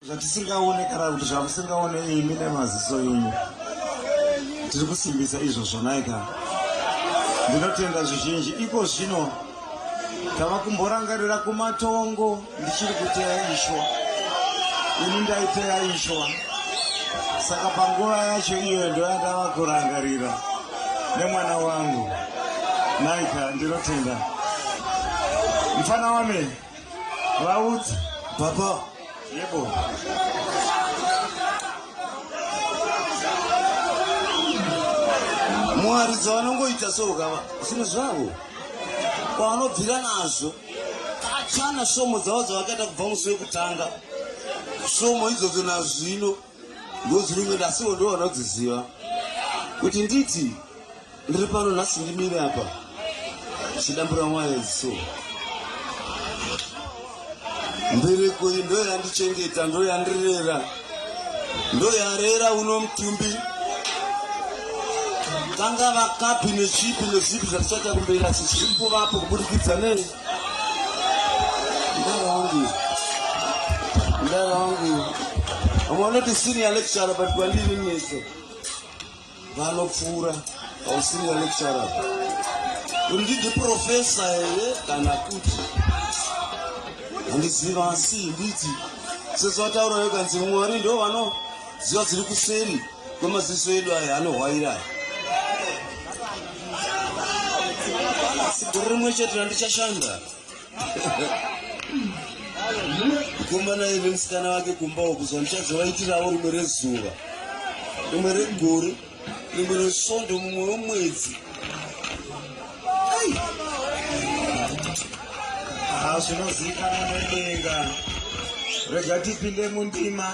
zvatisingaone kana kuti zvamusingaone imi nemaziso enyu tiri kusimbisa izvo zvonaika ndinotenda zvizhinji iko zvino tava kumborangarira kumatongo ndichiri kuteya ishwa ini ndaiteya ishwa saka panguva yacho iyo ndoyandava kurangarira nemwana wangu naika ndinotenda mfana wame Vaudzi. Papa. Yebo. Mwari dzavanongoita so gava zvinhu zvavo kwavanobvira nazvo kachana svomo dzavo dzavakaita kubva musi wekutanga svomo idzodzo nazvino ngozi rimwe ndasiwo ndiwo vanodziziva kuti nditi ndiri pano nhasi ndimire apa chidambura mwayo so mbereko iyi ndo yandichengeta ndo yandirera ndo yarera uno mutumbi vangava kapi nechipi nezipi zvatichaita kumberi asi zviri kuvapo kuburikidza nei vanoti senior lecturer but kwandiri mese vanopfuura ausenior lecturer undidi profesa here kana kuti handiziva asi nditi sezvataura yokanzi mwari ndo vanoziva dziri kuseri Kwemaziso edu aya anohwaira aya. Gore rimwe chete randichashanda. Mukomana iye nemusikana wake kumba uku zuva ndichazovaitirawo rimwe rezuva. Rimwe regore, rimwe resvondo mumwe wemwedzi. Hazvinozikanwa nedenga. Rega tipinde mundima.